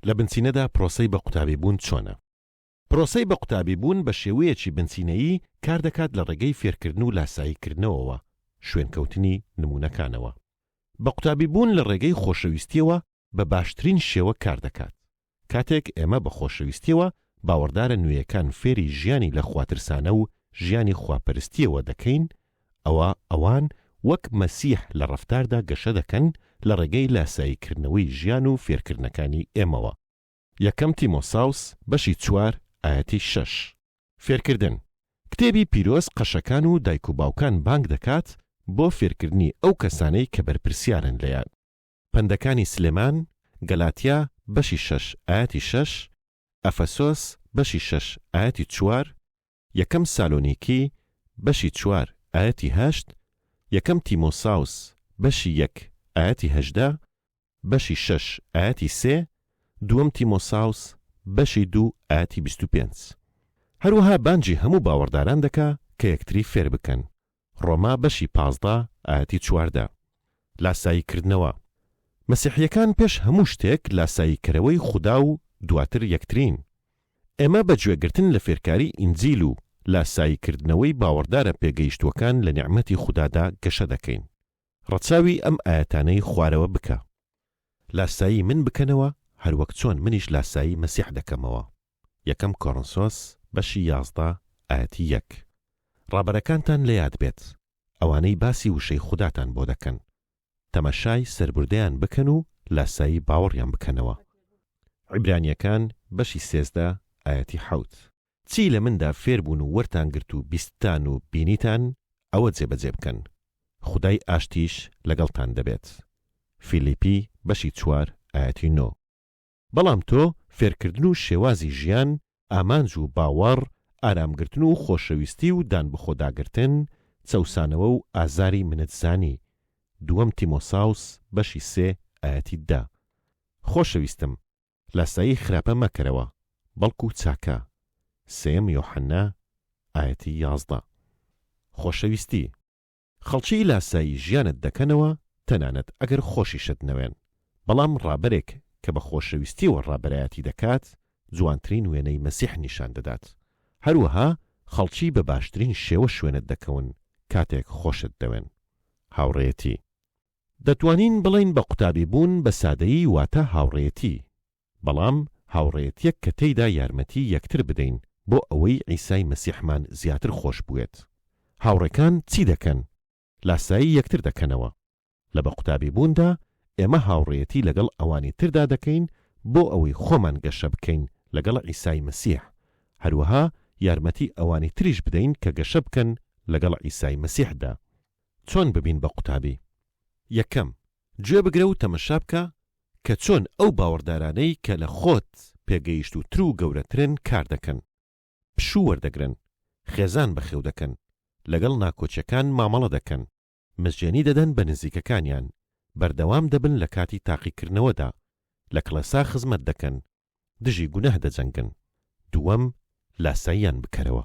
لە بنچینەدا پرۆسەی بە قوتابیبوون چۆنە؟ پرۆسەی بە قوتابیبوون بە شێوەیەکی بنچینەیی کار دەکات لە ڕێگەی فێرکردن و لاساییکردنەوەوە، شوێنکەوتنی نموونەکانەوە. بە قوتابیبوون لە ڕێگەی خۆشەویستییەوە بە باشترین شێوە کار دەکات. کاتێک ئێمە بە خۆشەویستییەوە باوەڕدارە نوێیەکان فێری ژیانی لە خواترسانە و ژیانی خواپەرستییەوە دەکەین، ئەوا ئەوان وەک مەسیح لە ڕەفتاردا گەشە دەکەن لە ڕێگەی لاساییکردنەوەی ژیان و فێرکردنەکانی ئێمەوە، یەکەم تیمۆساوس بەشی چوار ئایەتی شەش. فێرکردن، کتێبی پیرۆز قەشەکان و دایک و باوکان بانگ دەکات بۆ فێرکردنی ئەو کەسانەی کە بەرپرسیارن لێیان. پەندەکانی سلێمان، گەلاتیا بەشی شەش ئایەتی شەش، ئەفەسۆس بەشی شەش ئایەتی چوار، یەکەم سالۆنیکی بەشی چوار ئایەتی هەشت، یەکەم تیمۆساوس بەشی یەک ئایەتی هەژدە، بەشی شەش ئایەتی سێ، دووەم تیمۆساوس بەشی دوو ئایەتی بیست و پێنج. هەروەها بانگی هەموو باوەڕداران دەکا کە یەکتری فێر بکەن ڕۆما بەشی پازدە ئایەتی چواردە. لاسایی کردنەوە، مەسیحیەکان پێش هەموو شتێک لاسایی کەرەوەی خودا و دواتر یەکترین. ئێمە بە گوێگرتن لە فێرکاری ئینجیل و لاسایی کردنەوەی باوەڕدارە پێگەیشتووەکان لە نیعمەتی خودادا گەشە دەکەین. ڕەچاوی ئەم ئایەتانەی خوارەوە بکە. لاسایی من بکەنەوە هەروەک چۆن منیش لاسایی مەسیح دەکەمەوە، یەکەم کۆڕنسۆس بەشی یازدە ئایەتی یەک ڕابەرەکانتان لە یاد بێت ئەوانەی باسی وشەی خوداتان بۆ دەکەن تەمەشای سەربوردەیان بکەن و لاسایی باوەڕیان بکەنەوە عیبرانیەکان بەشی سێزدە ئایەتی حەوت. چی لە مندا فێر بوون و وەرتان گرت و بیستتان و بینیتان ئەوە جێبەجێ بکەن. خودای ئاشتیش لەگەڵتان دەبێت. فیلیپی بەشی چوار ئایەتی نۆ. بەڵام تۆ فێرکردن و شێوازی ژیان، ئامانج و باوەڕ، ئارامگرتن و خۆشەویستی و دانبەخۆداگرتن، چەوسانەوە و ئازاری منت زانی. دووەم تیمۆساوس بەشی سێ ئایەتی دە. خۆشەویستم! لاسایی خراپە مەکەرەوە، بەڵکو چاکە، سێیەم یۆحەنا، ئایەتی یازدە. خۆشەویستی. خەڵکی لاسایی ژیانت دەکەنەوە تەنانەت ئەگەر خۆشیشت نەوێن، بەڵام ڕابەرێک کە بە خۆشەویستیەوە ڕابەرایەتی دەکات جوانترین وێنەی مەسیح نیشان دەدات. هەروەها خەڵکی بە باشترین شێوە شوێنت دەکەون کاتێک خۆشت دەوێن. هاوڕێیەتی. دەتوانین بڵێین بە قوتابی بوون بە سادەیی واتە هاوڕێیەتی، بەڵام هاوڕێیەتیەک کە تێیدا یارمەتی یەکتر بدەین بۆ ئەوەی عیسای مەسیحمان زیاتر خۆش بوێت. هاوڕێکان چی دەکەن؟ لاسایی یەکتر دەکەنەوە. لە بە قوتابی بووندا ئێمە هاوڕێیەتی لەگەڵ ئەوانی تردا دەکەین بۆ ئەوەی خۆمان گەشە بکەین لەگەڵ عیسای مەسیح، هەروەها یارمەتی ئەوانی تریش بدەین کە گەشە بکەن لەگەڵ عیسای مەسیحدا. چۆن ببین بە قوتابی؟ یەکەم، گوێ بگرە و تەمەشا بکە کە چۆن ئەو باوەڕدارانەی کە لە خۆت پێگەیشتووتر و گەورەترن کار دەکەن، پشوو وەردەگرن، خێزان بەخێو دەکەن، لەگەڵ ناکۆکیەکان مامەڵە دەکەن، مزگێنی دەدەن بە نزیکەکانیان، بەردەوام دەبن لە کاتی تاقیکردنەوەدا، لە کڵێسا خزمەت دەکەن، دژی گوناه دەجەنگن. دووەم، لاساییان بکەرەوە.